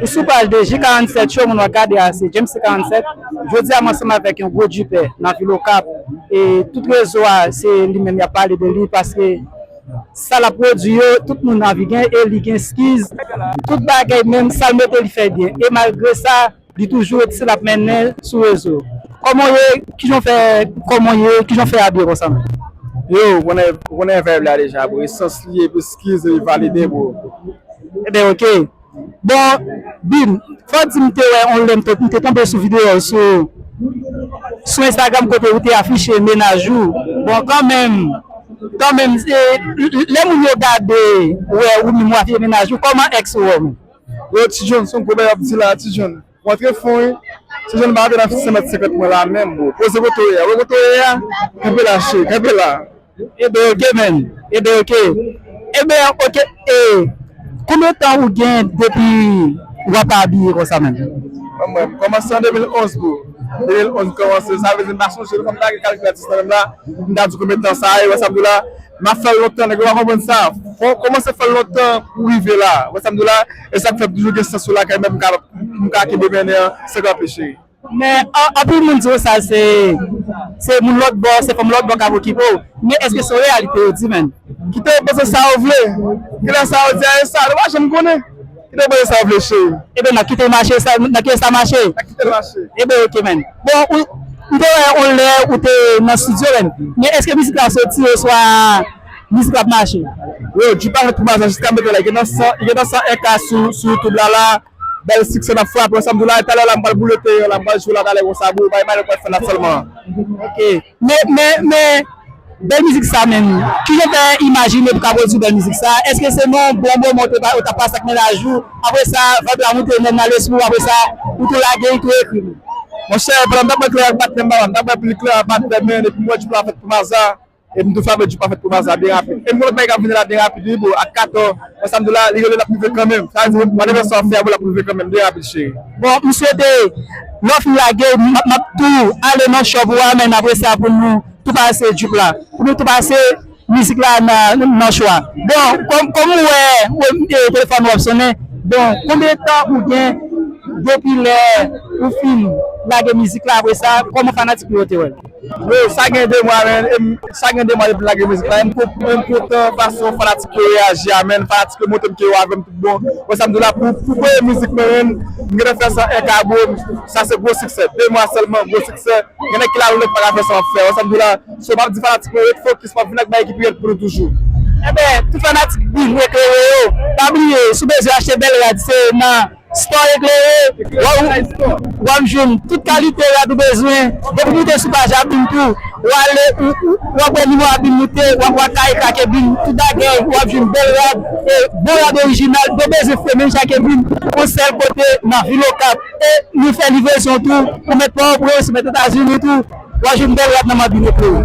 Ou sou paj 2, Ji 47 cho moun wap gade a se James T 47, jodi a m ansanm avèk yon gwo djipè nan vil okap e tout rezo a se li menm yap pale de li paske sa lap pwodwi yo tout moun anvi gen e li gen skiz tout bagèy menm sal mete li fè byen e malgre sa Li toujou ret se lap mennen sou rezo. Koman w ye kijan w fè koman w ye kijan w fè abiye konsa menm. Yo ou konnen ou konnen vibe la deja bro e sans li ye pou skiz li valide bro. Ebyen ok bon Byn fò di m te wè on lè m te tonbe sou videyo w sou sou Instagram kote ou te afiche mennaj ou bon kanmenm kanmenm lè moun yo gade wè ou menm ou afiche mennaj ou kòman ex ou wè w menm. Yo ti jhon son gwo bagay wap di la ti jhon ou antre fon wi ti jhon ou pa antre nan 150 mwen la menm bro poze kote ou ye a ou wè kote ou ye a kanpe la cheri kanpe la. Ebe ok man ebe ok ebe ok e konbyen tan ou gen depi wap abiye konsa man. Mwen m kòmanse an 2011 bro 2011 m kòmanse sa vle di m pa sonje m pa gen kalkilatris nan menm la pou m ta di konbyen tan sa ye wè sa m di w la. Nap fèl lontan nèg yo pa konprann sa fò kòmanse fèl lontan pou rive la wè sam di la esak fèm toujou gen sans yo lakay mwen poum ka kenbe mennen an san kanpe cheri. Men anpil moun diw sa se se moun lòt bò se fanm lòt bò kap okipe w men eske se reyalite yo di menn. Kite yo panse sa yo vle kilè sa yo di a e sa nou pa janm konnen. Kite mwen sa ou vle cheri. Ebyen na kitel mache sa na kite sa mache. Na kitel mache. Ebyen ok man. Bon ou m te wè on lè ou te nan studio man. Men eske mizik la soti oswa mizik la ap mache. Yo dji pa fèt pou maza jiska m mete la li gen nan 100 li gen nan 101 k sou sou youtube la la bèl siksè nap frape wè sam diw la e talè la m pral boule teyè la m pral jwe la talè konsa bro bay manèt mwen fè la sèlman. Ok. Men men men bèl mizik sa menm kijan w fè imajine pou ka pwodui bèl mizik sa èske se nan bon moman w te ou tap pase ak mennaj ou apre sa vayb la moute menm nan lespri w apre sa ou tou lage li tou ekri li. Monchè pandan m tap wè klè ak patnè m la m tap wè plis klè ak patnè m men epi m wè jou pa fèt pou m aza epi m tou fè avè jou pa fèt pou m aza byen rapid epi m wè lòt bagay kap vini la byen rapid wi boo ak kato. Bon sa mdi w la li rele lap rive kanmenm sa vle di whatever sa wap fè a bon lap rive kanmenm de rapid cheri. Bon m swete lè w fin lage map tou ale nan shop ou a men apre sa pou nou tou pase jup la pou nou tou pase mizik la nan chwa bon kòm ou wè telefòn ou ap sonnen bon konbyen tan ou gen depi lè ou fin lage mizik la apre sa kòman fanatik ou yo te wè l. Bro sa gen 2 mwa men sa gen 2 mwa depi lage mizik la em kontan fason fanatik yo reyaji a menn fanatik yo montrem ke yo avèm tout bon wè sam diw la pou premye mizik mwen menn m gentan fè sa 1 ka bro sa se gwo siksè 2 mwa sèlman gwo siksè gen nèg ki la loulèt paka fè sa map fè wè sam diw la so map di fanatik mwen ret fokis map vin ak bagay ki pi rèd pou nou toujou. Enben tout fanatik Big Recleo yo pa bliye si w bezwen achte bel rad se nan. Sport Eclairé, wap jwenn tout kalite rad ou bezwen, depi moute sou paj Abim tou, wale wap wè nimewo Abim moute, wap wè kay ak Abim, tout bagay wap jwenn bèl rad e bon rad orijinal, de bezwen fè menm jan ak Abim, on sèl kote nan vil Okap e nou fè livrezon tou, ou mèt Port-au-Prince, ou mèt Etazini tou, wap jwenn bèl rad nan Abim Eclairé.